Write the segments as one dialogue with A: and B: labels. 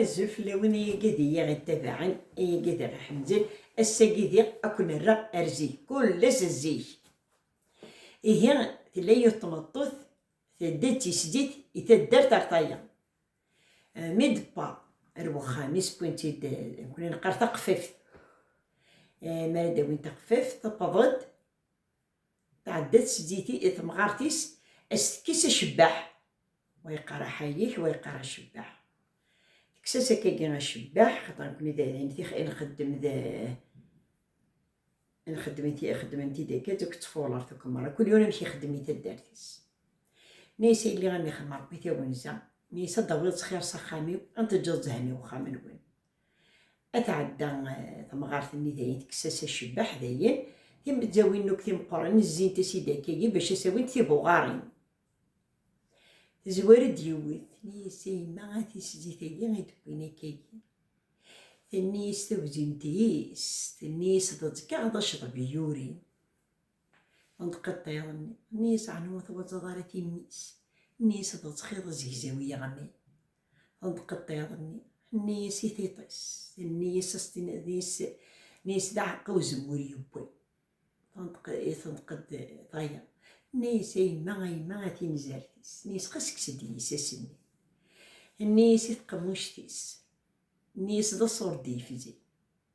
A: Azul fell-awen ay agadi i aɣ-ittabaɛen, ay agadi i aɣ-iḥemden, ass-agi diɣ ad ken-rreɣ ar zik, kul ass zik. Ihi tella yiwet tmeṭṭut tedda d tislit i taddart ar tayeḍ. Mi d-tewweḍ ar wexxam-is wwin-tt-id, nekkni neqqar taqeffaft. Mi ara d-awin taqeffaft tewweḍ-d, Tɛedda tseddit-i i temɣart-is a s-tekkes acebbaḥ. Wa yeqqar aḥayek, wa yeqqar acebbaḥ. Tekkes-as akkagi acebbaḥ, xaṭer nekkni d imtixa i nxeddem d i nxeddem i xeddmen tidekkat akked tfuleṛt akked meṛṛa, kul yiwen amek ixeddem i taddart-is. Nna-yas, a yelli, a m-ixdem Ṛebbi tawenza, nna-yas, ad d-tawiḍ ttxiṛ s axxam-iw, a n-teǧǧeḍ zzhen i wexxam-nwen. Ad tɛedda temɣart-nni dayen tekkes-as acebbaḥ dayen, timezzawin akk timeqqranin zzint-as i Dakagi bac a s-awint tibuɣarin. Tezwar-d yiwet, tenna-yas a yemma a tiszzit-agi i d-wwin akkagi. Tenna-yas tawzimt-is, tenna-yas d ẓkeɣ d acḍeb i yurin. Tenṭeq-d iḍ-nni, tenna-yas ɛni ur twazzaḍ ara timmi-s? Tenna-yas d ẓkeɣ d azegzaw yeɣman. tenṭeq-d iḍ-nni, tenni-yas i tiṭ-is, tenni-yas ad s-tiniḍ nni-yas d aɛeqqa uzemmur yewwi, tenṭeq-d tayeḍ, tenni-yas a yemma a yemma a tinzart-is, tenni-yas xas kkes-d iyisas-nni, tenni-yas i tqemmuct-is, tenni-yas d aṣur d-yefzi.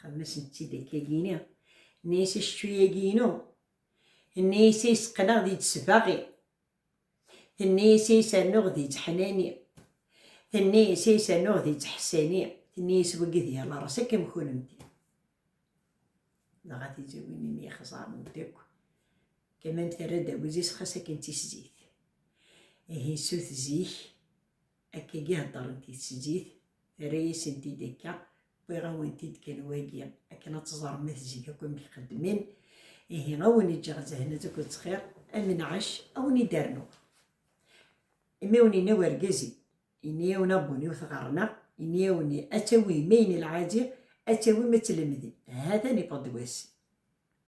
A: Xdem-asent-id akka gini, nni-as acečču-yagi inu, nni-as ay seqqneɣ di tesbaɣi, tenni-as ay sernuɣ di tteḥnani, tenni-as ay sernuɣ di tteḥsani, tenni-as wagi d yal aras akka am kunemti. Dɣa tizawin imi ixẓaren-d akk, Kamam terra-d awezis xas akken d tissit. Ihi sut zik, Akkagi heddṛent i tseǧǧit, terra-yasen-t-id akka, wwiɣ-awen-t-id kan wagi akken ad teẓrem ma tezzi akk amek xeddmen, ihi a wen-ǧǧeɣ zehnet akked ttxiṛ, a menɛac a wen-id-rnuɣ. Imi a wen-inna wergaz-im, inna-yawen abun-iw tɣerrneɣ, inna-yawen ad tawim ayen lɛaǧi, ad tawim ad tlemdem, ha-t-an iffeɣ-d wass.